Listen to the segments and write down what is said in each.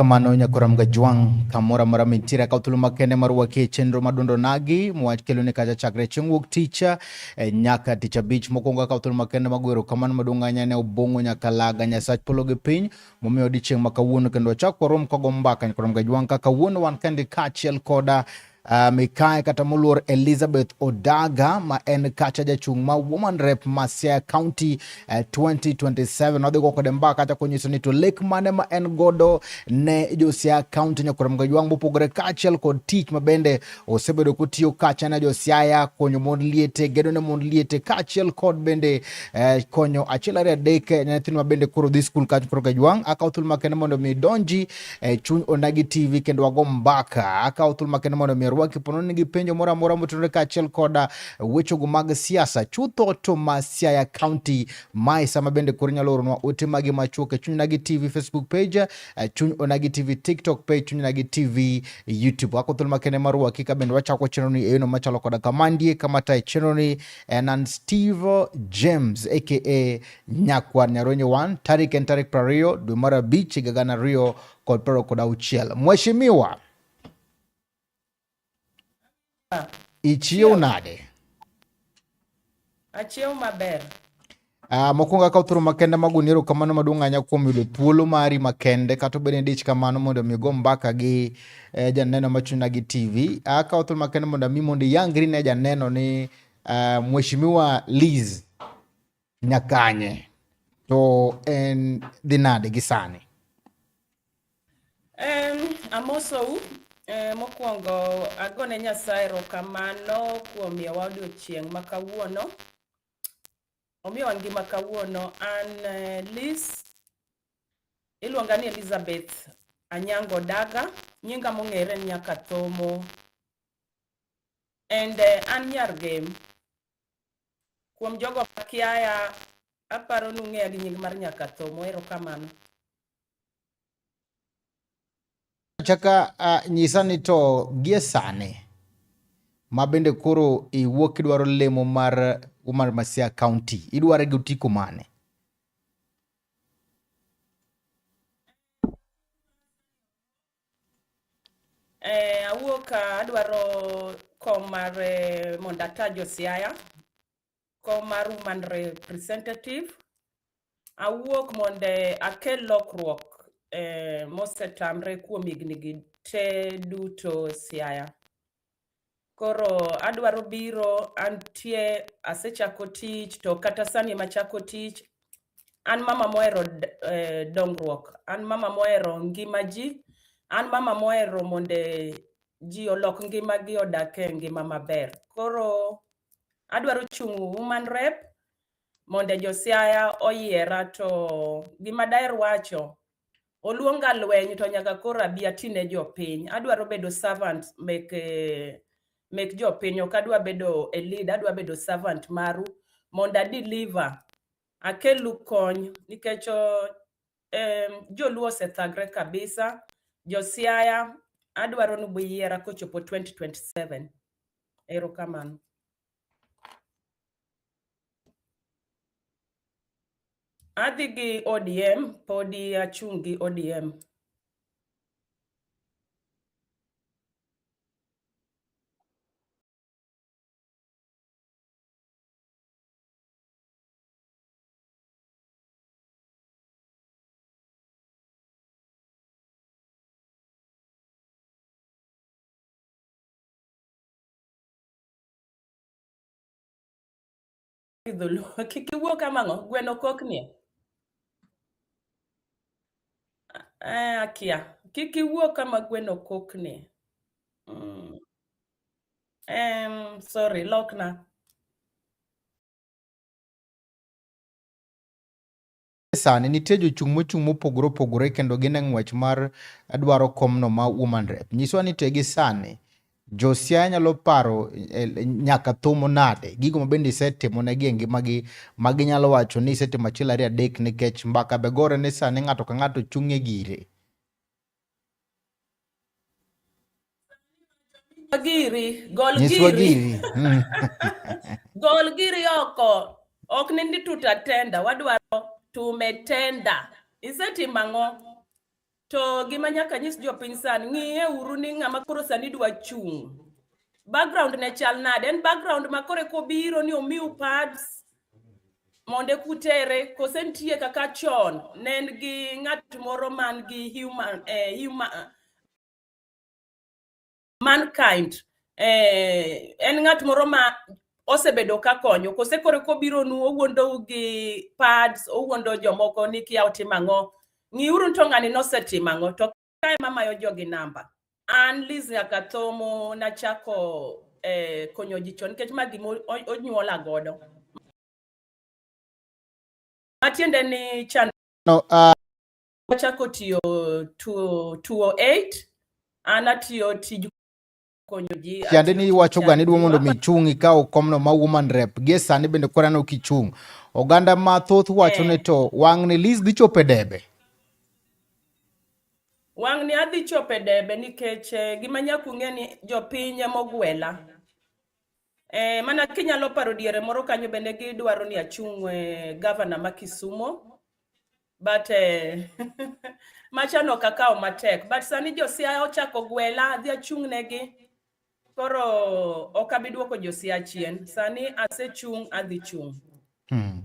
kamano nyakora mga jwang kamora mora mintira ka utulu makende marwa ke chenro madundo nagi mwach kelo ne kaja chakre chieng' wuok ticha e eh, nyaka ticha bich mokwongo ka utulu makende magwero kamano madunganya ne obongo nyaka laga nyasach polo gi piny momiyo odiechieng' ma kawuono kendo wachak warom kago mbaka nyaka romga jwang' ka kawuono wan kendi kaachiel koda Uh, mikae kata moluor Elizabeth Odaga ma en kacha jachung' ma Woman Rep ma Siaya County uh, 2027 nodhi go kode mbaka kacha konyiso ni to lek mane ma en godo ne jo Siaya County nyokorem ga ywang' mopogore kaachiel kod tich ma bende osebedo kotiyo kacha na josiaya konyo mond liete gedo ne mond liete kaachiel kod bende eh, konyo achiel ariyo adek eh, nyithinwa bende koro dhi skul kach koro gajwang' akawo thuolo makende mondo mi donji eh, chuny onagi tv kendo wago mbaka akawo thuolo makende mondo mi rwaki pono nigi penjo moro amora motenore kaachiel koda wechego mag siasa chutho to ma siaya county mae sama bende koro nyalo oronwa ote magi machuok e chuny onagi tv facebook page eh, chuny onagi tv tiktok page chuny onagi tv youtube wako thuolo makende mar ruaki ka bende wachako chenro ni eyono machalo koda kamandie kama tae chenro ni en an steve james aka nyakwar nyaronye 1 tarik en tarik prariyo dwe mar abich higa gana ariyo kod piero kod auchiel mheshimiwa Ichiew nade? Achiew maber. Uh, mokwongo akawo thuolo makende mag uni erokamano maduong' ahinya kuom yudo thuolo mari makende kata obed ni dich kamano mondo omi go mbaka gi eh, janeno machuna gi tv ah, akawo thuolo makende mondo ami mondo iyangri ne janeno ni uh, mheshimiwa Liz Nyakanye to en dhi nade gi sani? Um, amosou eh, mokwongo agone Nyasaye erokamano kuom miyowa odiochieng' ma kawuono omiyowa ngima kawuono an eh, Liz iluonga ni Elizabeth Anyango Daga nyinga mong'ere ni Nyakathomo and eh, an nyar Gem Kuom jogo makiaya, aparo nung'eya gi nying mar Nyakatho. Mohero kamano. Chaka uh, nyisa ni to gie sani ma bende koro iwuok kidwaro lemo mar Umar Masia County, idware gi otiko mane? Eh, awuok ah, adwaro kom mar eh, mondo ata Josiaya, kom mar woman representative. Awuok mondo eh, akel lokruok eh, mosetamre kuom higni gi te duto Siaya. koro adwaro biro antie asechako tich to kata sani machako tich an mama mohero eh, dongruok an mama mohero ngima ji an mama mohero mondo ji olok ngima gi odak e ngima maber koro adwaro chung' woman rep mondo josiaya oyiera to gima daher wacho oluonga lweny to nyaka koro abi atine jopiny adwaro bedo servant mek eh, mek jopiny ok adwa bedo a lead adwa bedo servant maru mondo adeliver akelu kony nikech oh, em, joluo osethagre kabisa josiaya adwaro ni buyiera kochopo 2027 erokamano Adhi gi ODM podi achung' gi ODM. dholuo kik iwuo kamang'o gweno koknie eh, akia kik iwuo kama gweno koknie mm. em sorry lokna sani nitie jochung' mochung' mopogore opogore kendo gin e ng'wech mar dwaro komno ma woman rep. Nyiswa ni te gi sani Josia nyalo paro eh, nyaka thumo nade gigo ma bende isetimo ne gi e ngimagi ma ginyalo wacho ni isetimo achiel ariyo adek nikech mbaka begore ni sani ng'ato ka ng'ato chung'e gire. Giri, gol nyiswa giri hmm. gol giri oko ok ni ndi tutatenda wadwaro tumetenda isetimo ang'o to gima nyaka nyis jopiny sani ng'iye uru ni ng'ama koro sani dwa chung' background ne chal nade en background ma kore kobiro ni omiu pads monde kutere kose nitie kaka chon ne en gi ng'at moro man gi human, eh, human mankind eh, en ng'at moro ma osebedo ka konyo kose koro kobironu owuondou gi pads owuondo jomoko ni kia otimo ang'o ng'iuru to ng'ani nosetimo ang'o to kae mamayo jogi namba an Liz Nyakathomo nachako eh, konyo ji chon nikech ma gima onyuola godo matiende ni chan no, uh... achako tiyo 208 an atiyo tij Tiende ni iwacho ga ni dwa mondo mi chung' ikaw komno ma woman rep. Gie sani bende kora no kichung'. Oganda ma thoth wacho ni eh. to wang' ni Liz dhi chope debe. Wang' ni adhi chope debe nikech eh, gima nyaku ng'e ni jopiny ema ogwela. Eh, mana kinyalo paro diere moro kanyo bende gidwaro ni achung' eh, gavana ma Kisumo. but eh, machano kakao matek but sani josia ochako gwela dhi achung' negi koro ok abi duoko josia chien sani asechung' adhi chung' hmm.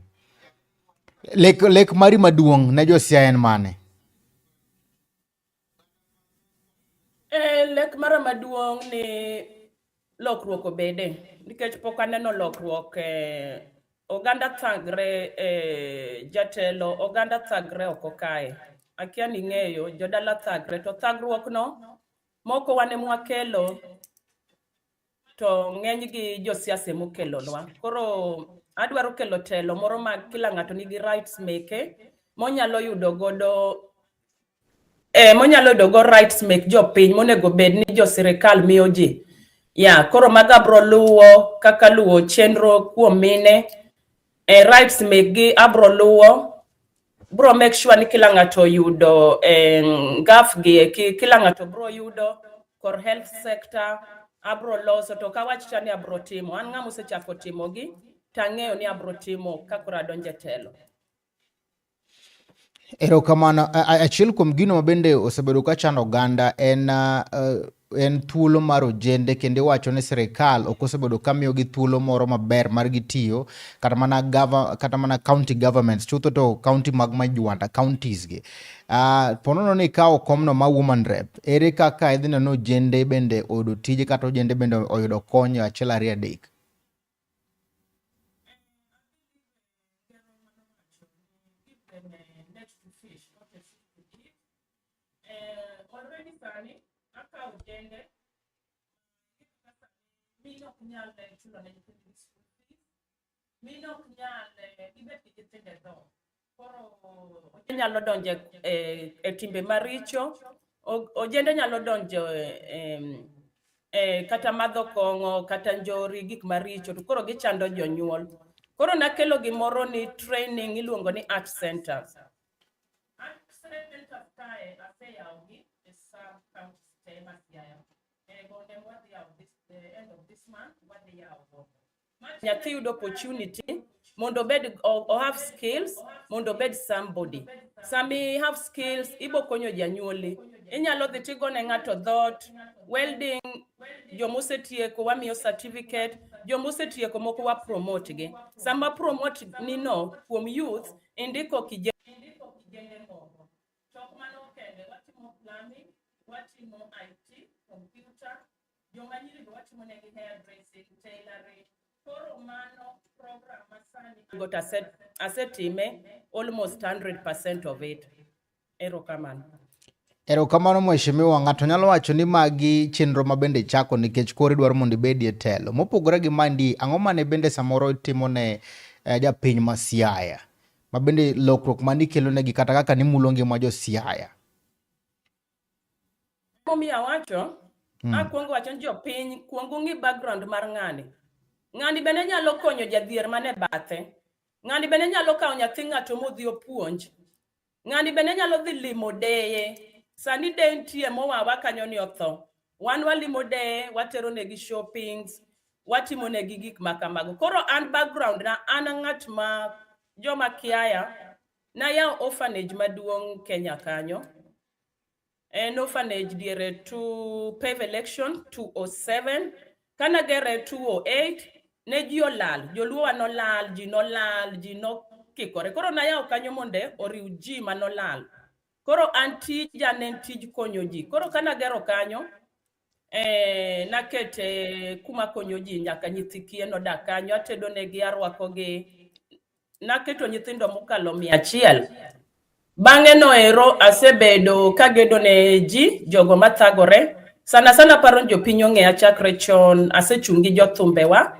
lek, lek mari maduong' ne josia en mane Eh, lek mara maduong' ni lokruok obede nikech pok aneno lokruok e oganda thagre e jatelo oganda thagre oko kae akia ni ng'eyo jodala thagre to thagruok no moko wane mwakelo to ng'enygi josiasa emokelonwa. Koro adwaro kelo telo moro ma kila ng'ato nigi rights meke monyalo yudo godo eh, monyalo yudo go rights mek jopiny monego bed ni jo sirikal miyo ji ya yeah, koro mago abro luwo kaka luwo chenro kuom mine eh, rights mekgi abro luwo bro make sure ni kila ng'ato yudo eh, gaf gi ki- kila ng'ato bro yudo kor health sector abro loso to kawachicha ni abro timo an ng'ama osechako timogi tang'eyo ni abro timo kakoro adonje telo Erokamano. A- a- Achiel kuom gino ma bende osebedo ka chando oganda en ah, ah, en thuolo mar ojende kendo iwacho ni sirikal ok osebedo ka miyogi thuolo moro maber mar gitiyo kata mana gava, kata mana county governments chutho to county mag majwanda counties gi uh, ah, ponono ni kawo komno ma woman rep ere kaka idhi neno ojende bende oyudo tije kata ojende bende oyudo kony achiel ariyo adek nyalo donjo e, e timbe maricho, ojende nyalo donjo e, e, kata madho kong'o kata njori gik maricho to koro gichando jonyuol. Koro nakelo gimoro ni training iluongo ni art center. An president of Kae aseyawogi e sub counties te ma Siaya. E gode wadhi yawo this the end of this month wadhi yawo gode. nyathi yud opportunity mondo obed o- o have skills mondo obed somebody sami have skills ibo konyo janyuoli inyalo dhi tigo ne ng'ato dhot welding joma osetieko wamiyo certificate joma osetieko moko wa promote gi sama promote nino kuom youth Indiko kije. Indiko kijende moko. To ok mano kende, watimo plumbing, watimo IT, computer, joma nyiri be watimo negi hairdressing, tailoring. Koro mano program masani. Got aset, asetime almost 100% of it. Erokamano. Erokamano mheshimiwa, ng'ato nyalo wacho ni magi chenro ma bende ichako nikech koro idwaro mondo ibedi e telo. Mopogore gi mandi, ang'o mane bende samoro itimo ne eh, japiny ma Siaya? Ma bende lokruok mane ikelonegi kata kaka nimulo ngima jo Siaya? Momiyo awacho, Mm. akwongo wacho ni jopiny kwongo ng'i background mar ng'ani. Ng'ani bende nyalo konyo jadhier mane bathe. Ng'ani bende nyalo kawo nyathi ng'ato modhi opuonj. Ng'ani bende nyalo dhi limo deye. Sani de nitie mowawa kanyo ni otho. Wan walimo deye, watero negi shoppings, watimo negi gik ma kamago. Koro an background na an ng'at ma joma kiaya nayawo orphanage maduong' Kenya kanyo. an orphanage diere to pave election 207 kana gere 208 ne ji olal joluowa nolal ji nolal ji nokikore koro nayawo kanyo monde oriw ji manolal koro an tija ne en tij konyo ji koro kana gero kanyo Eh, nakete kuma konyo ji nyaka nyithi kiye nodak kanyo atedo negi arwakogi naketo nyithindo mokalo mia achiel bang'e noero asebedo kagedo ne ji jogo mathagore sana sana paro ni jopiny ong'eya chakre chon asechung' gi jothumbewa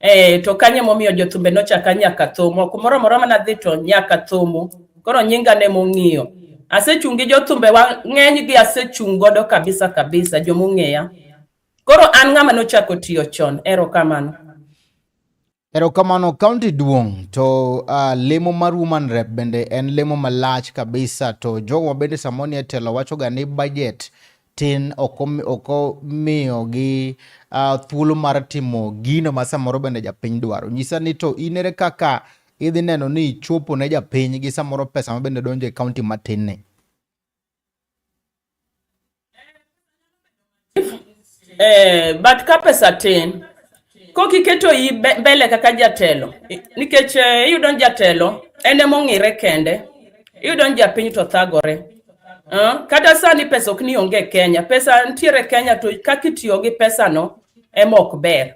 Eh, to kanye momiyo jothumbe nochaka nyaka thum ok moro moro mana dhi to nyaka thumu koro nyinga ne mong'iyo asechung' gi jothumbe wang'eny gi asechung' godo kabisa kabisa jomong'eya koro an ng'ama nochako tiyo chon ero kamano ero kamano kaunti duong' to uh, lemo mar woman rep bende en lemo malach kabisa to jogo bende samoni e telo wachoga ni budget tin ok omiyogi uh, thuolo mar timo gino ma samoro bende japiny dwaro. Nyisa ni to in ere kaka idhi neno ni ichopo ne japiny gi samoro pesa ma bende donjo e kaunti matin ni. Eh, but ka pesa tin Kok iketo i mbele kaka jatelo nikech eh, iyudo ni jatelo en ema ong'ire kende, iyudo ni japiny to thagore. Uh, kata sani pesa ok ni onge Kenya, pesa nitiere Kenya to kaka itiyo gi pesano ema ok ber.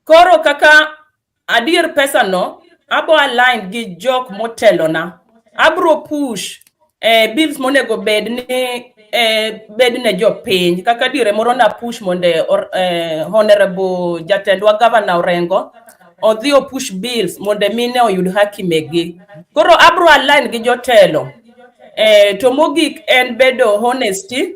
Koro kaka adier pesano abo align gi jok motelona, abro push eh, bills monego bed ni eh, bed ne jopiny kaka dire moro na push mondo eh, honorable jatendwa governor Orengo odhi opush bills mondo mine oyud haki megi koro abro align gi jotelo eh, to mogik en bedo honesty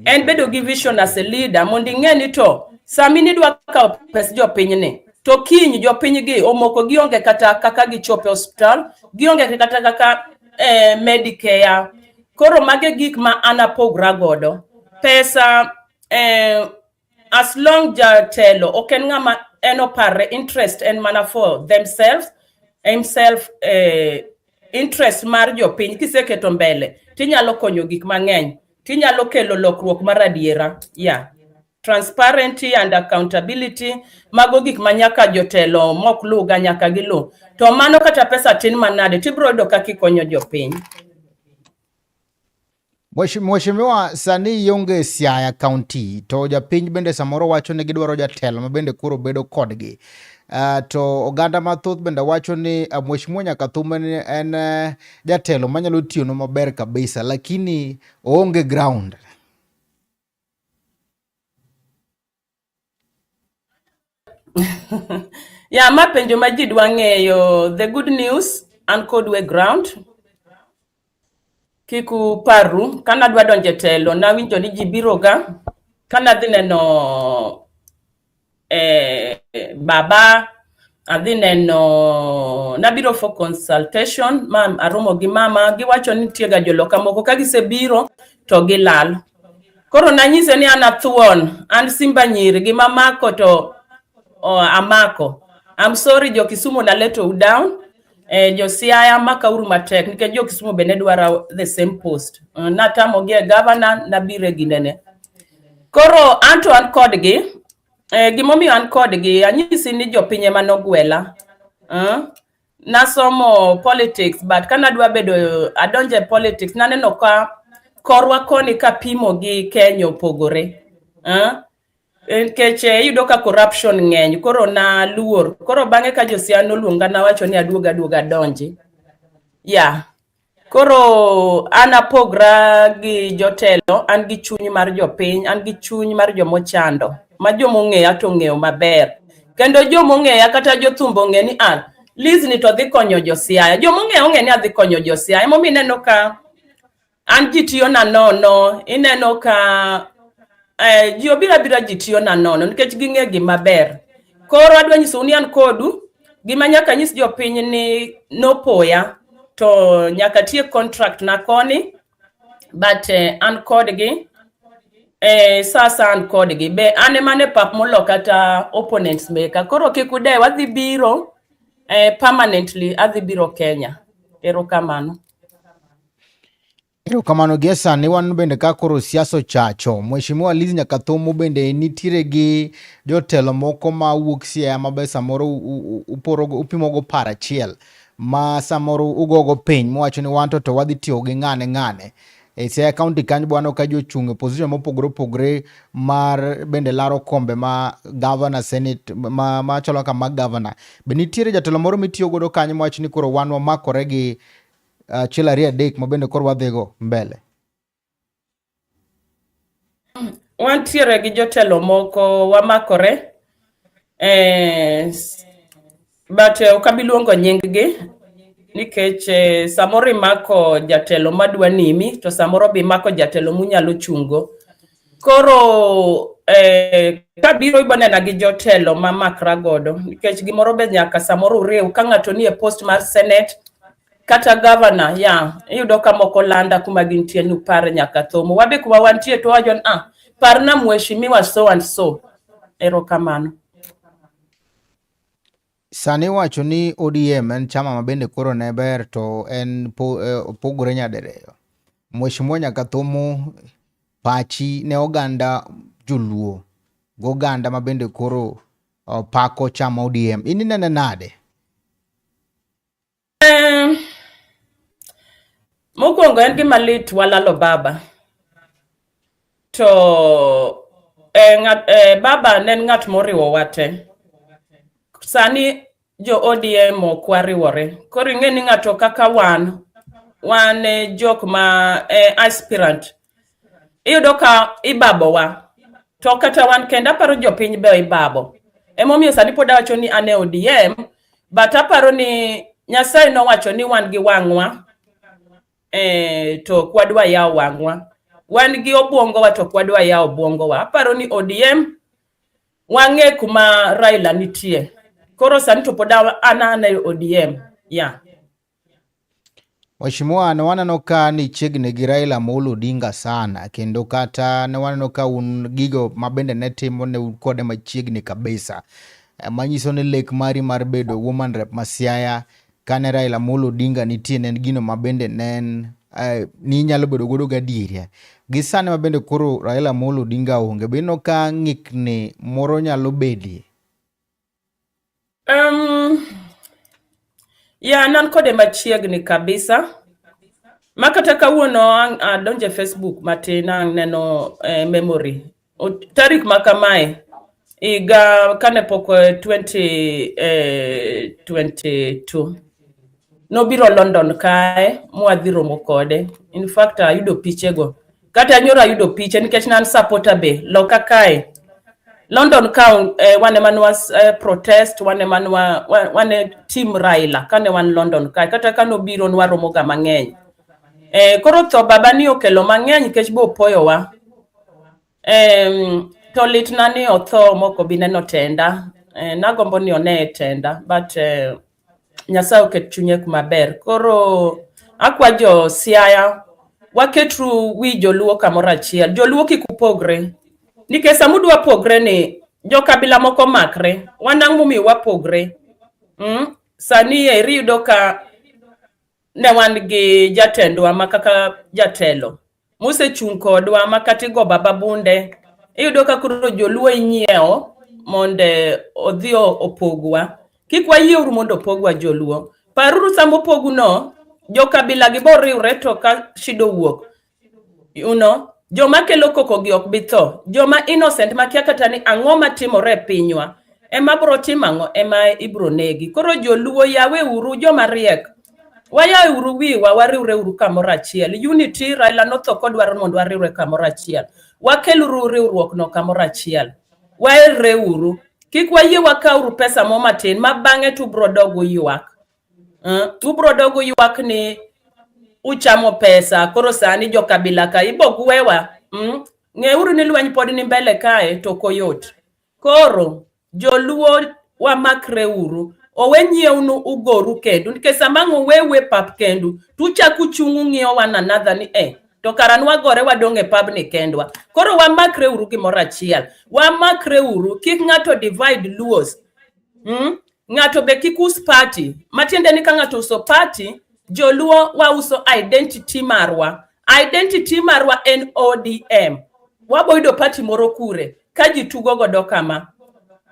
en bedo gi vision as a leader mondo ing'e ni to sami nidwa kawo pes jopiny ni to kiny jopiny gi omoko gionge kata kaka gichope hospital gionge kata kaka eh, Medicare. Koro mage gik ma an apogra godo. Pesa eh, as long jatelo ok en ng'ama en oparre interest en mana for themselves himself eh, interest mar jopiny kiseketo mbele tinyalo konyo gik mang'eny tinyalo kelo lokruok mar adiera yeah. transparency and accountability mago gik ma nyaka jotelo mok luwga nyaka giluw to mano kata pesa tin manade tibiro yudo kaka ikonyo jopiny Mheshimiwa, sani ionge Siaya County to japiny bende samoro wacho ni gidwaro jatelo ma bende koro bedo kodgi. Uh, to oganda mathoth bende wacho ni uh, Mheshimiwa Nyakathuma en uh, jatelo manyalo tiyonu maber kabisa lakini oonge ground. ya ma penjo ma ji dwa ng'eyo the good news an kod we ground kik uparru kane adwa donjo e telo nawinjo ni ji biroga kane adhi neno eh, baba adhi neno nabiro for consultation mam aromo gi mama giwacho ni nitie ga joloka moko ka gisebiro to gilal koro nanyise ni an athuon an simba nyiri gi mamako to oh, amako I'm sorry jo Kisumu na let you down eh, josiaya makauru matek nikech jo kisumo bende dwaro the same post uh, eh, natamogi e gavana nabire ginene koro anto an kodgi eh, gimomiyo an kodgi anyisi ni jopiny ema nogwela uh, eh, nasomo politics but ka nadwa bedo adonjo e politics naneno ka korwa koni kapimo gi kenya opogore uh, nikech eh, iyudo ka corruption ng'eny koro naluor koro bang'e ka josia noluonga nawacho ni aduog aduog adonji ya yeah. koro an apogra gi jotelo an gi chuny mar jopiny an gi chuny mar jomochando ma jomong'eya to ng'eyo maber kendo jomong'eya kata jothumbo ong'e ni an ah, lizni to dhi konyo josiaya jomong'eya ong'e ni adhi konyo josiaya emomiyo ineno ka An ji tiyo na nono, ineno ka eh, ji obira bira ji tiyo na nono nikech ging'e gima ber. Koro adwa nyisou ni an kodu gima nyaka nyis jopiny ni nopoya to nyaka tiek contract na koni but eh, an kodgi eh, sasa an kodgi be an ema ne pap molo kata opponents meka koro kik udew adhi biro eh, permanently adhi biro Kenya. Erokamano. Erokamano gie sani wan bende ka koro siasa ochacho. Mheshimiwa Liz Nyakathomo bende nitiere gi jotelo moko ma wuok Siaya ma be samoro uporogo upimogo par achiel ma samoro ugogo piny muwacho ni wanto to wadhi tiyo gi ng'ane ng'ane. E Siaya kaunti kanyo be waneno ka ji ochung' e position mopogore opogore mar bende laro kombe ma governor, senate ma machalo kaka mag governor. Be nitiere jatelo moro mitiyo godo kanyo mwacho ni koro wan wamakore gi achiel ariyo adek ma bende koro wadhigo mbele. Wantiere gi jotelo moko wamakore eh, but eh, ok abi luongo nyinggi nikech eh, samoro imako jatelo madwa nimi to samoro be imako jatelo munyalo chungo. koro eh, kabiro ibanena gi jotelo ma makra godo nikech gimoro be nyaka samoro uriw ka ng'ato nie post mar senate kata governor ya yeah, iyudo ka moko landa kuma gintie ni upare nyaka thomo wabe kuma wantie to wajon ah parna mheshimiwa so and so erokamano Sani iwacho ni ODM en chama ma bende koro ne ber to en eh, opogore nyadiriyo. Mheshimiwa Nyakathomo pachi ne oganda joluo goganda ma bende koro oh, pako chama ODM. In inene nade? Mokwongo en gima lit walalo baba to eh, ngat, eh, baba ne en ng'at moriwo wate sani jo ODM ok wariwore koro ing'e ni ng'ato kaka wan wan eh, jok ma eh, aspirant iyudo ka ibabowa to kata wan kendo aparo jopiny be ibabo emomiyo sani pod awacho ni an e odm but aparo ni nyasaye nowacho ni wan gi wang'wa e, to ok wadwa yawo wang'wa wan gi obwongowa to ok wadwa yawo obwongowa aparo ni odm wang'e kuma raila nitie koro sani to pod an an e odm ya yeah. Mheshimiwa, ne waneno ka ni chiegni gi Raila Amolo Odinga sana kendo kata ne waneno ka un gigo ma bende ne timo ne un kode machiegni kabisa eh, manyiso ni lek mari mar bedo woman rep ma Siaya kane Raila Amolo Odinga nitie ne en gino ma bende ne en eh, ni inyalo bedo godo gadieri gi sani ma bende koro Raila Amolo Odinga onge bino ka ng'ikni moro nyalo bedie Um, ya nan kode machiegni kabisa ma kata kawuono ang- adonje Facebook matin ang' neno eh, memory O- tarik ma kamae higa kane pok eh, 20 eh, 22 nobiro London kae mwadhi romo kode in fact ayudo pichego Kata nyoro ayudo piche nikech nan supporter be loka kae. London ka eh, wane manwa eh, protest wane manwa wa- wane team Raila kane wan London kae kata kane obiro nwaromoga mang'eny. Eh, koro tho baba ni okelo mang'eny nikech be opoyowa. Em, to litna ni otho moko bi neno tenda. Eh, nagombo ni one e tenda but eh, Nyasaye oket chunye kuma ber. Koro akwa jo Siaya waketru wi joluo kamoro achiel. Joluo kik upogre. Nikech sama udwa pogre ni jo kabila moko makre, wan ang'o momiyo wapogre? Mm? Sani eri yudo ka ne wan gi jatendwa ma kaka jatelo mosechung' kodwa ma kata igo baba bunde iyudo ka koro joluo inyiewo mondo odhi opogwa kik wayie uru mondo opogwa joluo paruru sama opogu no jo kabila gi boriwre to ka shido wuok you know joma kelo koko gi ok bitho joma innocent makia kata ni ang'o matimore e pinywa ema bro timo ang'o ema ibro negi koro joluo yawe uru joma riek Wayae uru wiwa wariwre uru kamoro achiel. Unity Raila notho kodwaro mondo wariwre kamoro achiel. Wakel uru riwruok no kamoro achiel. Waerre uru. Kik wayie wakaw uru pesa mo matin ma bang'e to ubro dogo ywak. Uh, ubro dogo ywak ni uchamo pesa koro sani jo kabila ka ibo gwewa. Mm? Ng'e uru ni lweny pod ni mbele kae to koyot. Koro Joluo wamakre uru owe nyiewnu ugoru kendu nikech sama ang' uwewe pap kendu to uchak uchung' ung'iyo one another ni eh to kara nwagore wadong' e pabni kendwa koro wamakre uru gimoro achiel wamakre uru kik ng'ato divide luos mm? ng'ato be kik us party matiende ni ka ng'ato uso party joluo wauso identity marwa Identity marwa en ODM. Waboyudo party moro kure ka ji tugo godo kama.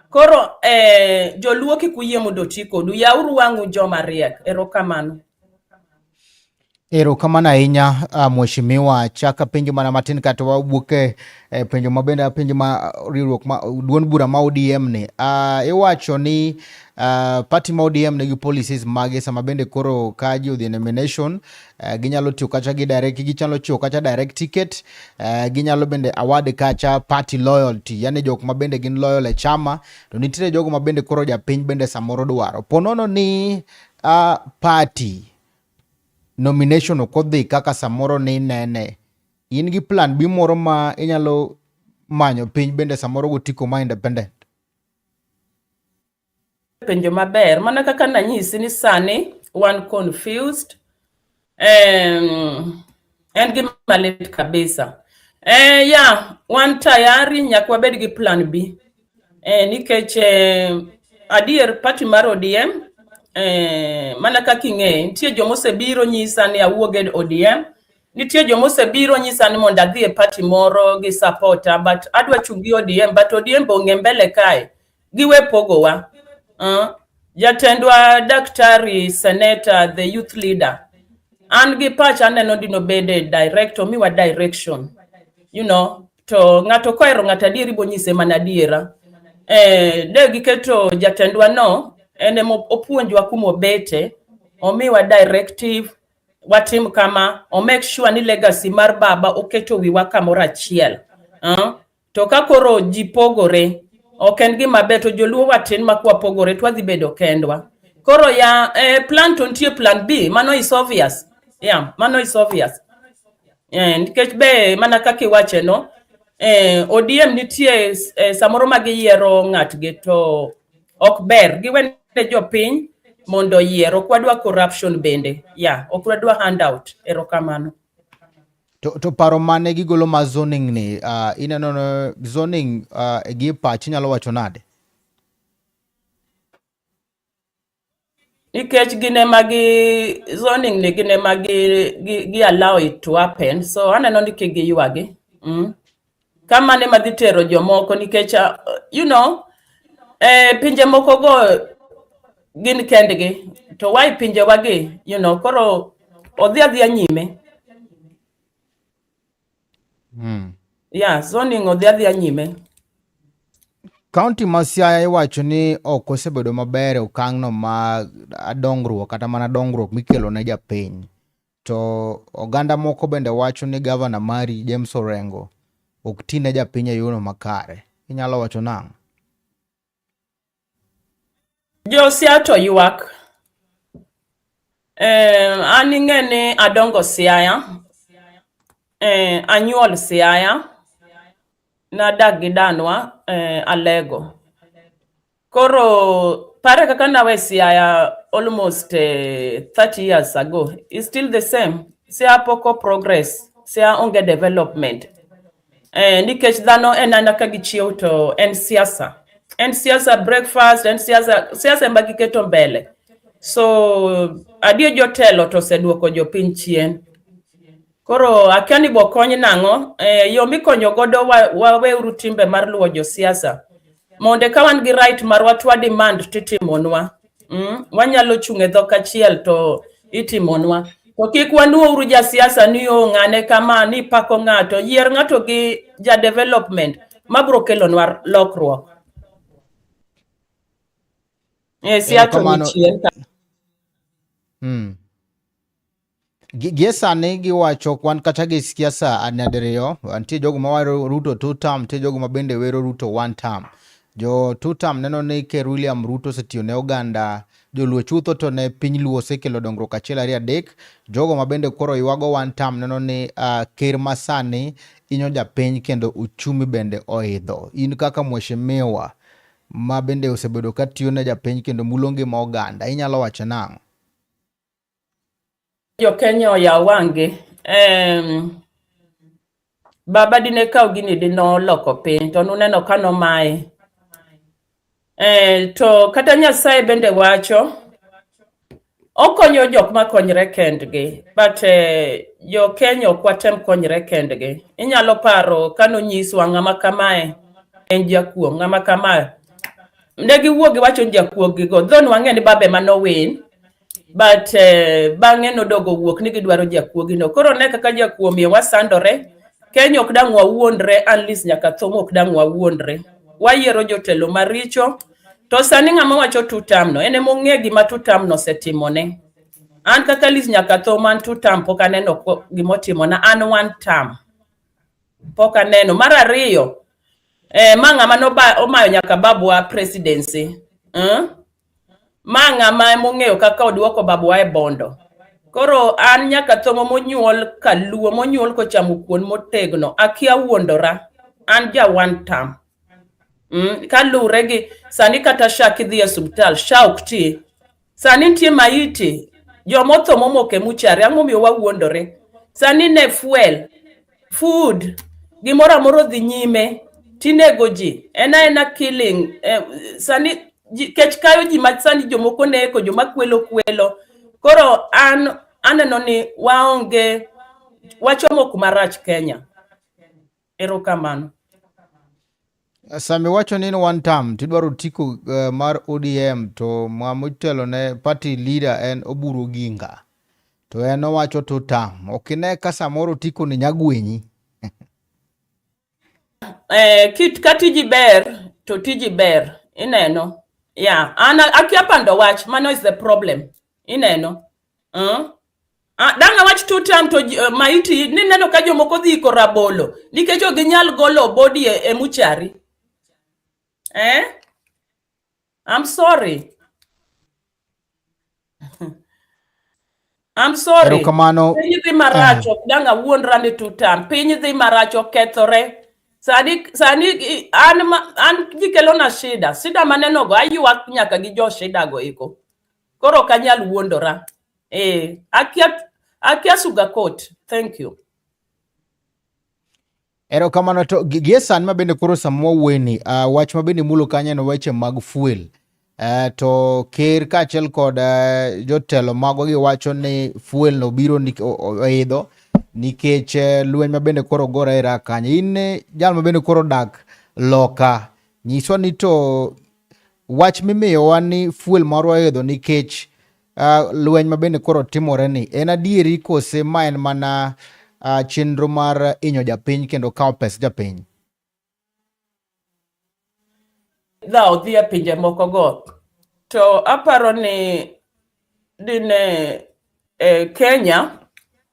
Koro eh, joluo kik uyie mondo oti kodu. Yauru wang'u joma riek. Erokamano. Erokamano ahinya uh, mheshimiwa. Chak apenjo mana matin kata wawuok e eh, penjo ma bende apenjo ma riwruok ma duond bura ma ODM ni uh, iwacho ni uh, party ma ODM nigi policies mage sama bende koro ka ji odhi e nomination Uh, ginyalo tiyo kacha gi direct gichalo chiwo kacha direct ticket uh, ginyalo bende award kacha party loyalty yani jok ma bende gin loyal e chama to nitiere jogo ma bende koro japiny bende samoro dwaro ponono ni uh, party nomination ok odhi kaka samoro ni nene in gi plan bi moro ma inyalo manyo piny bende samoro gotiko ma independent penjo maber mana kaka nanyisi ni sani wan confused um, en gi malit kabisa eh, ya yeah, wan tayari nyaka wabed gi plan b eh, nikech eh, adier pati mar odm eh, mana kaka ing'eyo nitie joma osebiro nyisa ni awuog e odm nitie joma osebiro nyisa ni mondo adhi e pati moro gi sapota but adwa chung' gi odm but odm be ong'e mbele kae giwe pogowa uh, jatendwa daktari seneta the youth leader an gi pacha aneno dino bede direct omiwa direction you know to ng'ato kohero ng'ato adieri bonyise mana adiera eh, de giketo jatendwa no en ema opuonjwa kuma obete omiwa directive watim kama o make sure ni legacy mar baba oketo wiwa kamoro achiel uh, to ka koro ji pogore ok en gima ber to joluo watin ma kwa pogore twadhi bedo kendwa koro ya eh, plan to nitie plan b mano is obvious yeah, mano is obvious Eh, nikech be mana kaka iwache no eh, odm nitie eh, samoro ma giyiero ng'atgi to ok ber giwene jopiny mondo oyier ok wadwa corruption bende ya yeah, ok wadwa handout erokamano To, to paro mane gigolo ma zoning ni uh, ineno no zoning uh, gi pach inyalo wacho nade? Nikech gin ema gi zoning ni gin ema gi, gi, gi allow it to happen so aneno ni kik giywagi. Mm. kamane madhi tero jomoko nikech uh, you know eh, pinje moko go gin kendgi to why pinje wagi you know koro odhi adhiya nyime mm. yeah zoning odhi adhiya nyime Kaunti ma Siaya iwacho ni ok osebedo maber e okang'no ma dongruok kata mana dongruok mikelo ne japiny. To oganda moko bende wacho ni gavana mari James Orengo ok ti ne japiny e yono makare. Inyalo wacho nang'? Josia to ywak. Eh, an ing'e ni adongo Siaya. Eh, anyuol Siaya. Nadak gi danwa eh, Alego. Koro pare kaka nawe Siaya almost uh, eh, 30 years ago is still the same. Siaya poko progress, Siaya onge development. Eh, nikech dhano en ana ka gichiew to en siasa. En siasa breakfast, en siasa siasa ema giketo mbele. So adier jotelo to oseduoko jopiny chien. Koro akia ni bokony nang'o eh, yo mikonyo godo waweuru wa timbe mar luwo josiasa monde ka wan gi right marwa twa demand titimonwa mm? wanyalo chung' e dhok achiel to itimonwa to kik wanuouru jasiasa ni o ng'ane kama ni pako ng'ato yier ng'ato gi ja development mabro kelonwa lokruok e siasa mm. gie sani giwacho kwan kata gi siasa nyadiriyo nitie jogo mawero ruto two term nitie jogo ma bende wero ruto one term jo two term neno ni ker william ruto osetiyo ne oganda joluo chutho to ne piny luo osekelo dongruok achiel ariyo adek jogo ma bende koro ywago one term neno ni uh, ker masani inyo japiny kendo uchumi bende oidho in kaka mweshimiwa ma bende osebedo ka tiyo ne japiny kendo mulo ngima oganda inyalo wacho nang'o jo Kenya oyaw wang'gi um, baba dine kaw gini dinoloko piny to nuneno ka nomaye eh, to kata Nyasaye bende wacho okonyo jok ma konyre kendgi but eh, jo Kenya ok watem konyre kendgi inyalo paro ka nonyiswa ng'ama kamae en jakuo ng'ama kamae ne giwuogi wacho jakuogigo dhon wang'e ni babe manowin but uh, bang'e nodogo wuok ni gidwaro jakuogino koro ne kaka jakuo miyo wasandore kenya ok dang' wawuondre anlis nyaka thong' ok dang' wawuondre wayiero jotelo maricho to sani ng'ama wacho tutamno en emong'e gima tutamno osetimone an kaka lis nyaka tho man tutam pok aneno gima otimona an one tam pok aneno mar ariyo eh, ma ng'ama nomayo nyaka babwa presidency eh? Ma ng'ama emong'eyo kaka oduoko babwa e bondo. Koro an nyaka thongo monyuol kaluo monyuol kochamo kuon motegno akia wuondora an ja one term mm, kaluwre gi sani kata sha kidhi e subtal sha ok ti sani nitie maiti jomotho momoke muchare ang'o miyo wawuondore sani ne fuel food gimoro amoro odhi nyime tinego ji en aena killing eh, sani kech kayo ji ma sani jomoko neko joma kwelo kwelo koro an aneno ni waonge wachomo kuma rach kenya erokamano Sami wacho ni one term tidwaro tiko uh, mar ODM to ma motelo ne party leader en Oburu Oginga to en owacho two term ok ine ka samoro tiko ni nyagwenyi eh, kit ka tiji ber to tiji ber ineno yeah an akia pando wach mano is the problem ineno uh. Ah, danga wach two time to uh, maiti ni neno ka jomoko dhi iko rabolo nikech ok ginyal golo body e, e muchari eh? I'm sorry I'm sorry. Erokamano. Piny dhi marach eh. ok dang awuondra ni two time. Piny dhi marach okethore. Sani sani an an gikelona shida. Shida maneno go aywak nyaka gi jo shida go iko. koro ok anyal wuondora eh, akia akia suga court thank you erokamano to gie sani ma bende koro sama wawuoyeni uh, ah, wach ma bende mulo kanyo en weche mag fuel uh, to ker kaachiel kod uh, jotelo mago giwacho ni fuel no biro oidho nikech uh, lweny ma bende koro gora e rak kanyo in jal ma bende koro dak loka nyiswa ni to wach mimiyowa ni fuel marwa oidho nikech uh, lweny ma bende koro timore ni en adieri kose ma en mana uh, chenro mar inyo japiny kendo kawo pes japiny dha odhi e pinje mokogo to aparo ni dine e, Kenya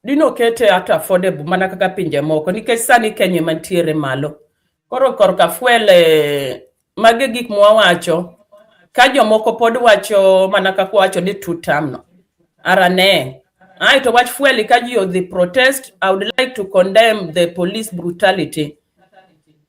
dine okete at affordable mana kaka pinje moko nikech sani Kenya ema nitiere malo. Koro korka fuel e, mage gik mwawacho ka jomoko pod wacho mana kaka wacho ni two term no arane ae to wach fuel ka ji odhi protest I would like to condemn the police brutality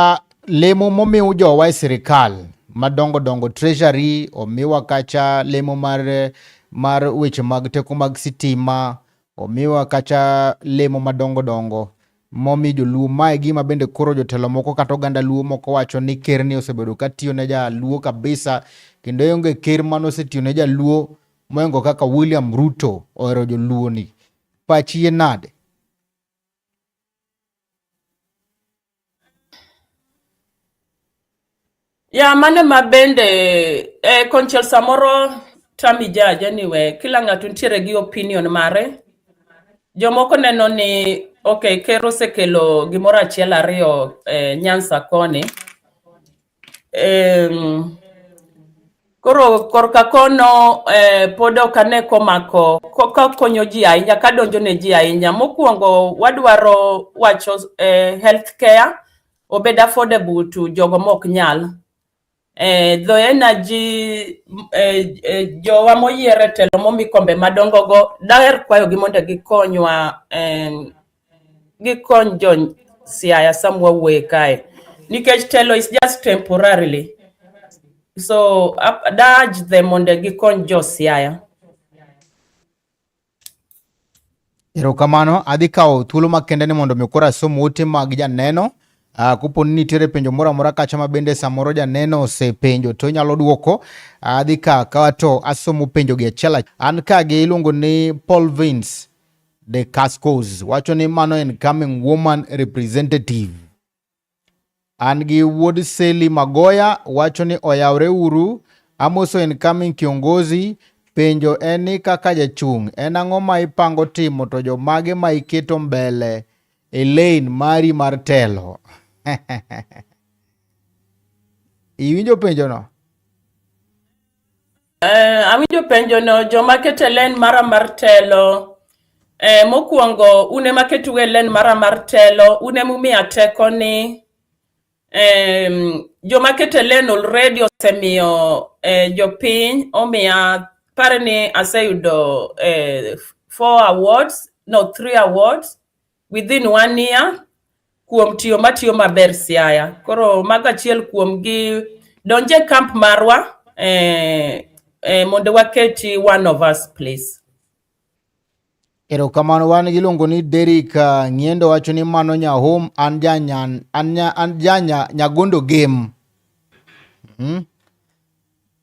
Uh, lemo momiw jowa e sirikal madongo dongo treasury omiwa kacha lemo mar mar weche mag teko mag sitima omiwa kacha lemo madongo dongo momi joluo mae gima bende koro jotelo moko kata oganda luo moko wacho ni ker ni osebedo ka tiyo ne jaluo kabisa kendo onge ker mane osetiyo ne jaluo moingo kaka William Ruto ohero joluo ni pachi ye nade Ya mano ma bende eh, konchiel samoro tami judge anyway, kila ng'ato nitiere gi opinion mare. Jomoko neno ni okay, ker osekelo gimoro achiel ariyo eh, Nyanza koni Um, koro korka kono eh, pod ok ane komako kakonyo ji ahinya kadonjo ne ji ahinya mokwongo wadwaro wacho eh, health care obed affordable to jogo mok nyal eh, the energy eh, eh, jowa moyier e telo momi kombe madongogo daher kwayogi mondo gikonywa eh, gi kony jo Siaya sama wawuoye kae nikech telo is just temporarily so adaj them mondo gikony jo Siaya. Erokamano, adhi kawo thuolo makende ni mondo mi koro asom ote mag janeno. Uh, kopo ni nitiere penjo moro amora kacha ma bende samoro janeno osepenjo to inyalo dwoko adhi ka kawa to asomo penjogi achiel an ka gi iluongo ni Paul Vins de Cascos wacho ni mano en coming woman representative. An gi wuod Seli Magoya wacho ni oyawre uru Amoso en coming kiongozi penjo en ni kaka jachung' en ang'o ma ipango timo to jomage ma iketo mbele e lane mari mar telo iwinjo penjono Eh, awinjo penjo no joma kete len mara mar telo Eh, mokwongo un ema ketu e len mara mar telo un ema umiya teko ni em, joma kete len already osemiyo eh, jopiny omiya pare ni aseyudo eh, four awards no three awards within one year kuom tiyo matiyo maber Siaya. Koro mago achiel kuom gi donje camp marwa eh, eh, mondo waketi one of us please. Erokamano wan giluongo ni Derrick uh, Ng'iendo wacho ni mano nya home an janya an janya nyagondo game. Mm -hmm.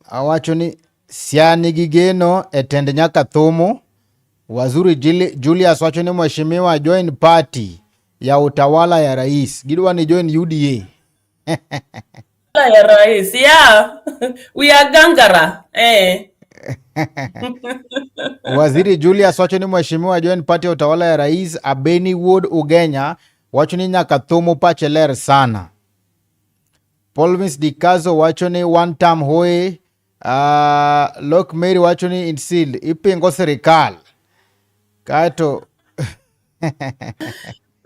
Awacho ni Siaya nigi geno e tend nyaka thumu. Wazuri Julius wacho ni mheshimiwa join party ya utawala ya rais. Gidwa ni join UDA. ya rais. Yeah. We are gangara. Eh. Waziri Julius wacho ni mheshimiwa join party ya utawala ya rais Abeni Wood Ugenya wacho ni nyaka thumu pache ler sana. Polvis Dikazo wacho ni one term hoye. Uh, Lok Mary wacho ni insil ipingo sirikal kaeto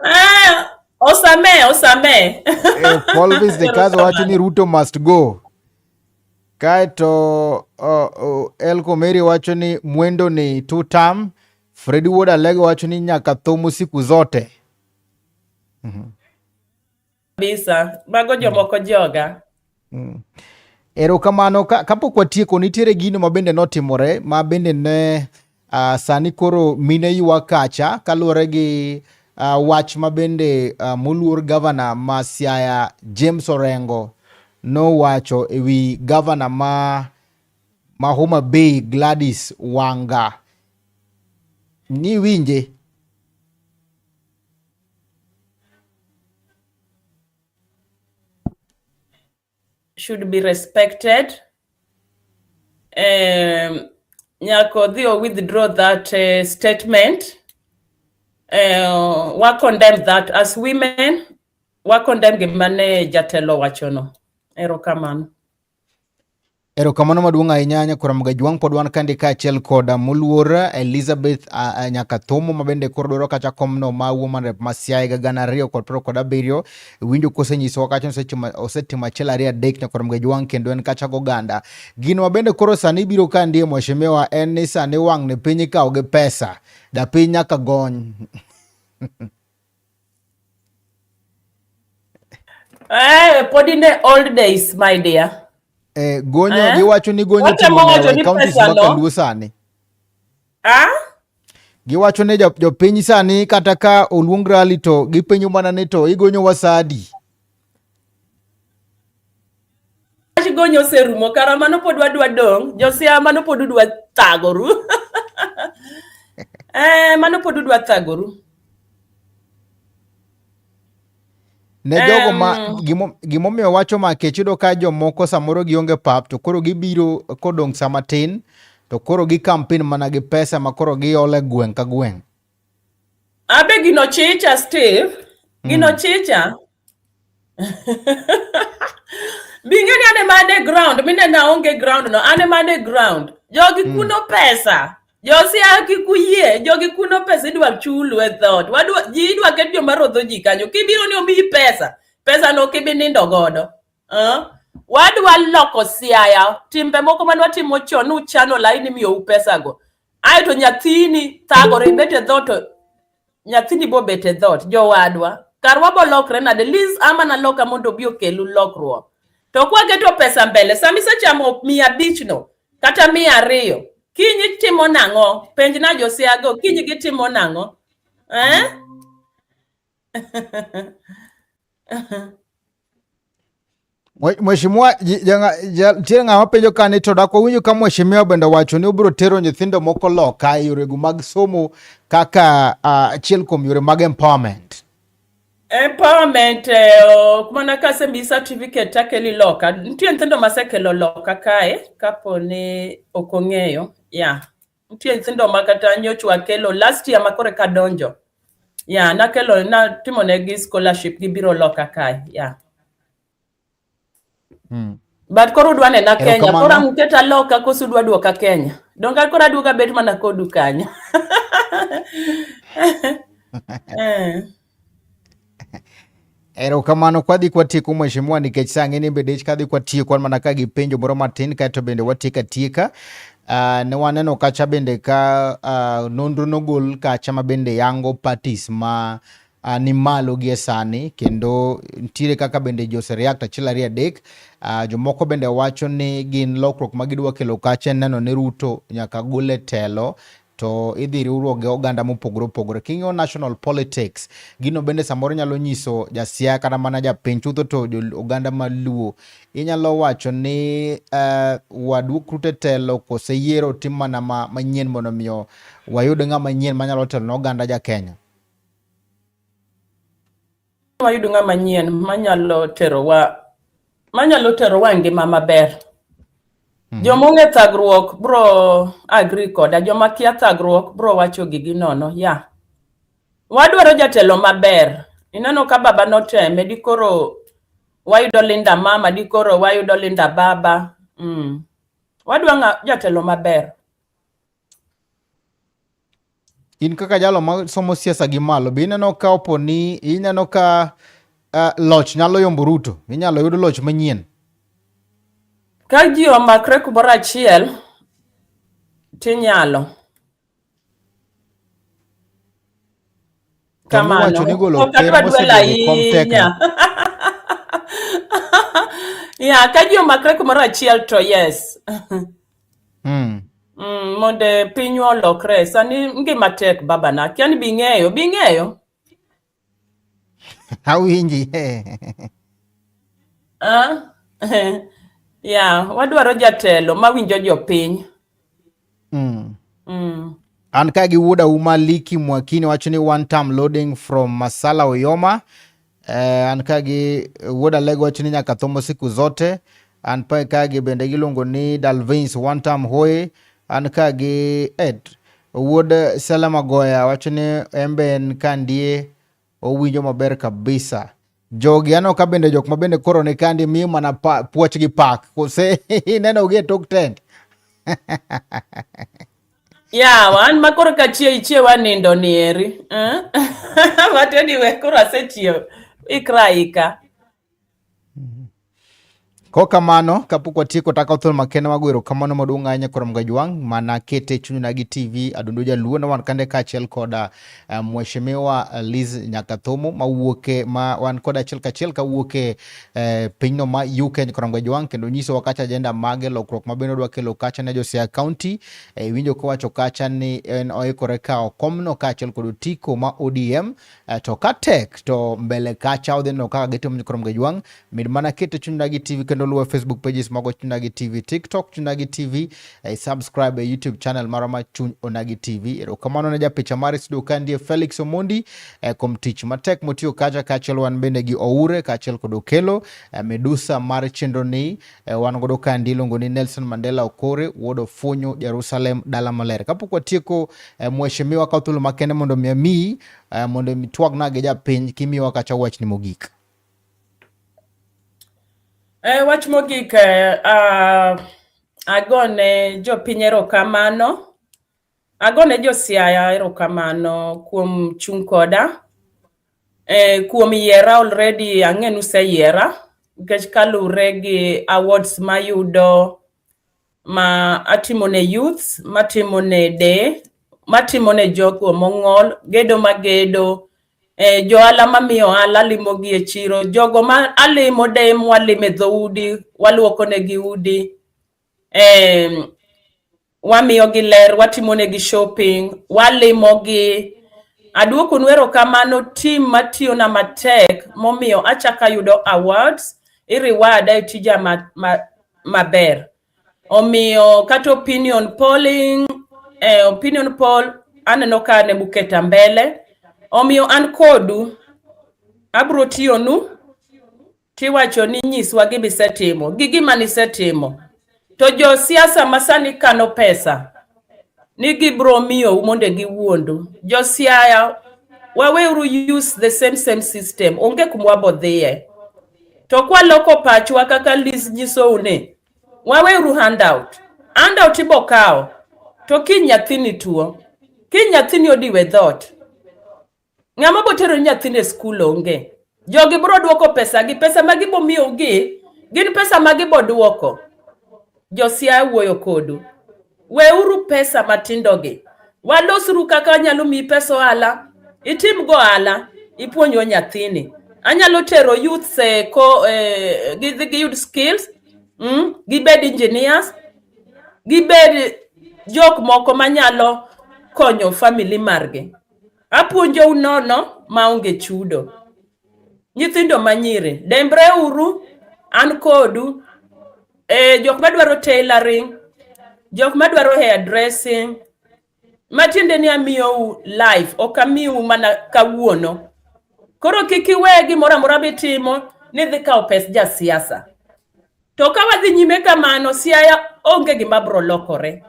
ah, osame osame eh, Polvis Dikazo wacho ni Ruto must go kaeto uh, uh, Elko Mary wacho ni mwendo ni two term Fredi Wuod Alego wacho ni nyaka thum siku zote. mm -hmm. kabisa mago jomoko mm. joga mm. erokamano ka, kapok watieko nitiere gino ma bende notimore ma bende ne uh, sani koro mine ywa kacha kaluwore gi uh, wach ma bende uh, moluor gavana ma siaya james orengo nowacho e wi gavana ma, ma homa bay gladys wanga niwinje should be respected um, nyako dhi o withdraw that uh, statement uh, wa condemn that as women wa condemn gimane jatelo wachono erokamano Erokamano maduong' ahinya Nyakora Mgajwang' pod wan kandi kaachiel kod uh, moluor Elizabeth uh, uh, Nyakathomo ma bende koro dwaro kacha komno ma woman rep ma Siaya higa gana ariyo kod piero kod abiriyo winjo kosenyisowa kacha osetimo achiel ariyo adek Nyakora Mgajwang' kendo en kacha goganda. Gino ma bende koro sani biro ka ndiye mheshimiwa en ni sani wang' ne piny ikawo gi pesa da piny nyaka gony Eh, pod in the old days, my dear. Eh, gonyo eh? giwacho ni gonyo timo e counties ma Kaluo sani. Ah? Giwacho ni jopiny sani kata ka oluong rally to gipenyo mana ni to igonyo wasadi. gonyo oserumo kara mano pod wadwa dong josia mano pod udwa thagoru eh, mano pod udwa thagoru ne jogo ma gimomiyo wacho ma kech yudo ka jomoko samoro gionge pap to koro gibiro kodong' sama tin to koro gi kampen mana gi pesa ma koro giole gweng' ka gweng'. Abe gino chicha Steve, gino mm. chicha. Bingeni ane mane ground, mine naonge ground no, ane mane ground. Jogi mm. kuno pesa. Josia kikuyie, jogi kuno pesa idwa chulu e thot. Wadwa ji idwa ket joma rodho ji kanyo. Kibiro ni omiyi pesa, pesa no kibi nindo godo. Uh? Wadwa loko siaya, timbe moko manwa timo chon, uchano laini miyo u pesa go. ae to nyathini thagore ibet e dhot to nyathini bobet e dhot jowadwa karwa bolokre nade liz ama naloka mondo obi okelu lokruok to kwageto pesa mbele sama isechamo mia abich no kata mia ariyo kiny itimo nang'o penj na josiago kiny gitimo nang'o eh? Mheshimiwa nitie ng'ama penjo ka ni to dak wawinjo ka mheshimiwa bende wacho ni obiro tero nyithindo moko loka e yorego mag somo kaka achiel uh, kuom yore mag empowerment. Empowerment eh, ok mana kasemi certificate takeli loka. Nitie nyithindo masekelo loka kae kapo ni ok ong'eyo. Yeah. Nitie nyithindo ma kata nyochwa kelo last year ma kore ka donjo. Yeah, nakelo natimo negi scholarship gibiro loka kae. Yeah. Hmm. But koro udwa nena Kenya, koro Erokamano. ang'uketa loka koso udwa duoka Kenya. Donge koro aduoga bet mana kodu kanyo. Eh. Erokamano kwadhi kwatieko mheshimiwa nikech sa ng'eni bende ich kadhi kwatieko an mana ka gi penjo moro matin kaeto bende watieko atieka. Uh, ne waneno kacha bende ka uh, nonro nogol kacha ma bende yango parties ma uh, ni malo gie sani kendo ntiere kaka bende Jose React achiel ariyo adek uh, jomoko bende wacho ni gin lokruok ma gidwa kelo kacha neno ni Ruto nyaka gole telo to idhi riwruok gi oganda mopogore opogore. King'iyo national politics, gino bende samoro nyalo nyiso jasiaya kata mana japiny chutho to oganda maluo. Inyalo wacho ni uh, wadu krute telo kose yiero tim mana ma, manyien mondo miyo wayud ng'ama nyien manyalo telo ne oganda ja Kenya. wayud ng'ama nyien manyalo terowa manyalo terowa ngima maber mhm. joma ong'e thagruok bro agri koda joma kia thagruok bro wacho gigi nono ya yeah. wadwaro jatelo maber ineno ka baba noteme dikoro wayudo linda mama dikoro wayudo linda baba mm. wadwa jatelo maber In kaka jalo ma somo siasa gi malo, be ineno ka opo ni ineno ka uh, loch nyalo yombo Ruto? Inyalo yud loch manyien? Ka ji omakre kumoro achiel, tinyalo. kamano ok adwa dwel ahinya ya ka ji omakre kumoro achiel to yes mm. Mm, mondo pinywa olokre sani ngima tek babana akia ni bing'eyo bing'eyo awinji ah, ya wadwaro jatelo mawinjo jopiny mm. Mm. An ka gi wuoda uma Liki Mwakini wacho ni one time loading from Masala Oyoma. Eh, an ka gi wuoda Lego wacho ni nyaka thomo siku zote. An pa ka gi bende giluongo ni Dalvins one time hoye. An ka gi Ed wuod Salama Goya wacho ni embe en ka ndie Owinjo maber kabisa. Jogi aneno ka bende jok ma bende koro ni kandi miyo mana puoch gi pak. Kose ineno gi e tok tent. Yeah, wan ma koro ka chie ichie wanindo ni eri. Eh? But anyway, koro asechiew. Ikra ika. Mm-hmm. Ko kamano kapok watieko taka othol makende mago erokamano maduong' ahinya Koram Gajwang' mana kete chunyna gi TV Adundo Jaluo na wan kande kaachiel koda uh, eh, Mheshimiwa eh, Liz Nyakathomo mawuoke ma wan koda achiel kachiel kawuoke uh, eh, pinyno ma UK Koram Gajwang' kendo nyisowa kacha ajenda mage lokruok ma bende odwa kelo kacha ne Josiaya County uh, winjo kowacho kacha ni en oikore kawo komno kaachiel kod otiko ma ODM Eh, to ka tek to mbele kacha odhi neno kaka gitimo nyikrom gi jwang' min mana kete chunagi tv kendo luwe facebook pages mago chunagi tv tiktok chunagi tv eh, subscribe e youtube channel mara ma chuny onagi tv erokamano ne japicha mar studio ka ndiye felix omondi eh, kuom tich matek motiyo kacha kaachiel wan bende gi oure kaachiel kod okelo eh, medusa mar chenro ni eh, wan godo ka ndi iluongo ni nelson mandela okore wuod ofunyo jerusalem dala maler kapok watieko eh, mheshimiwa kaw thuolo makende mondo mi amiyi Uh, mondo mitwagna gi japiny kimiwa kacha wachni mogik. Eh, wach mogik eh, uh, agone jopiny erokamano agone josiaya erokamano kuom chung' koda eh, kuom yiera already ang'e nuseyiera nikech kalure gi awards mayudo ma atimo ne youth matimo ne de matimo ne jogo mong'ol gedo magedo eh, johala mamiyo ohala alimogi e chiro jogo ma alimo de mwalimo e dhoudi waluoko negi udi eh, wamiyogi ler watimo negi shopping walimogi Aduoku nwero kamano tim matiyo na matek momiyo achaka yudo awards iriwada e tija ma, ma, maber. Omiyo kata opinion polling, eh, opinion poll aneno ka ne muketa mbele. Omiyo an kodu abro tiyonu tiwacho ni nyiswa gima isetimo gi gima nisetimo. To jo siasa masani kano pesa ni gibro miyou mondo giwuondu. Jo siaya waweuru use the same same system. Onge kuma wabodhiye. to kwaloko pachwa kaka Liz nyisou ni waweuru handout. Handout ibo kawo to kiny nyathini tuo, kiny nyathini odiwe dhoot, ng'ama botero nyathini e skul onge. Jogi biro duoko pesa gi pesa ma gibomiyougi gin pesa ma giboduoko. Josia wuoyo kodu. Weuru pesa matindogi. Walosru kaka anyalo miyi pesa ohala. Itim go ohala. Ipuonjwa nyathini. Anyalo tero youth eh, ko, eh, gidhi giyud skills. Mm, gibed engineers. Gibed jok moko manyalo konyo family margi. Apuonjou nono maonge chudo. nyithindo manyiri dembre uru an kodu e, jok madwaro tailoring jok madwaro hair dressing matiende ni amiyou life ok amiu mana kawuono koro kik iwe gimoro amora mitimo ni dhi kawo pes jasiasa To ka wadhi nyime kamano, Siaya onge gima bro lokore.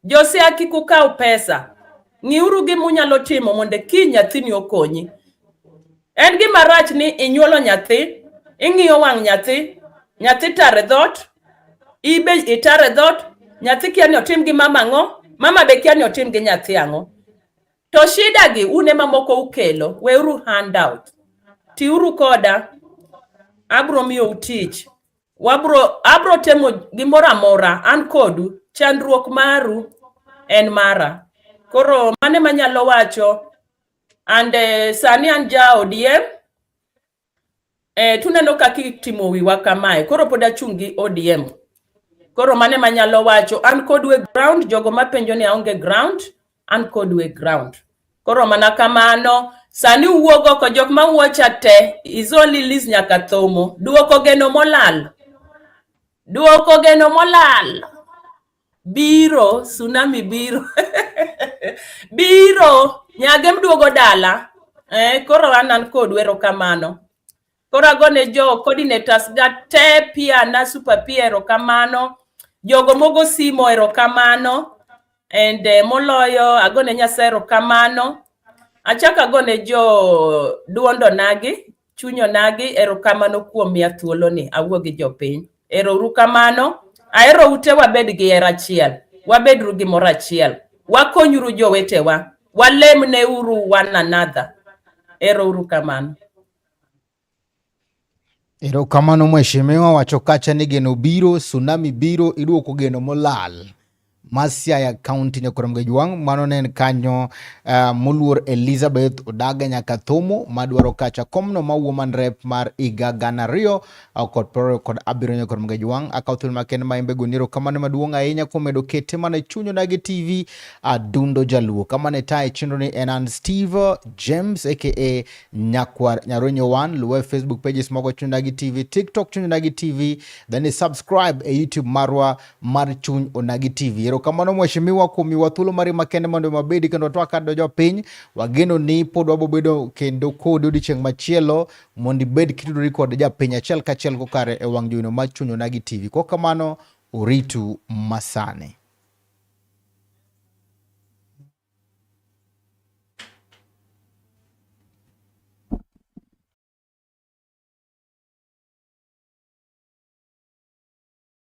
Josiaya kik ukaw pesa, ng'iuru gima unyalo timo mondo kiny nyathini okonyi. En gima rach ni inyuolo nyathi, ing'iyo wang' nyathi, nyathi tare dhot, ibe itare dhot, nyathi kia ni otim gi mama ang'o, mama be kia ni otim gi nyathi ang'o. To shida gi un ema moko ukelo, weuru handout. Tiuru koda, abro miyou tich. Wabro, abro temo gimoro amora, an kodu, chandruok maru en mara. Koro mane manyalo wacho, and eh, sani an ja ODM, Eh, tuneno kaka itimo wiwa kamae. Koro pod achung' gi ODM. Koro mane manyalo wacho an kod we ground jogo mapenjo ni aonge ground an kod we ground. Koro mana kamano sani uwuog oko jok ma wuocha te is only Liz nyaka thomo duoko geno molal. Duoko geno molal. biro tsunami biro biro nyage mduogo dala eh, koro an an kodu erokamano koro agone jo coordinators ga te pia na super pia erokamano jogo mogo simo erokamano and eh, moloyo agone nyasaye erokamano achako agone jo duondo nagi Chuny onagi, erokamano kuom miya thuolo ni awuo gi jopiny. Ero uru kamano, ahero ute wabed gi hera achiel, wabedru gi moro achiel, wakonyuru jowetewa, walem ne uru one another. Ero uru kamano. Ero kamano mheshimiwa wacho kacha ni geno biro, tsunami biro, iduoko geno molal. Masiaya County nyokuno mgeji wang' mano ne en kanyo uh, moluor Elizabeth Odaga nyaka Thomo madwaro kacha komno ma woman rep mar iga gana ariyo uh, kod piero kod abiriyo nyokuno mgeji wang' akawo thuolo makende ma embe goniro kamano maduong' ahinya kuom medo kete mana e chunyo nagi TV adundo uh, jaluo kamano e tae chenro ni en an Steve James aka Nyakwar Nyaronyo One luwe Facebook pages mogo chunyo nagi TV TikTok chunyo nagi TV then subscribe e YouTube marwa mar chuny Onagi TV. Erokamano mheshimiwa kuom miwa thuolo mari makende mondo wabedi kendo twaka dojo piny. Wageno ni pod wabobedo kendo kodi odiochieng' machielo mondo ibed kitudori kod japiny achiel kachiel kokare e wang' joino mar chuny Onagi TV. Kok kamano oritu masani.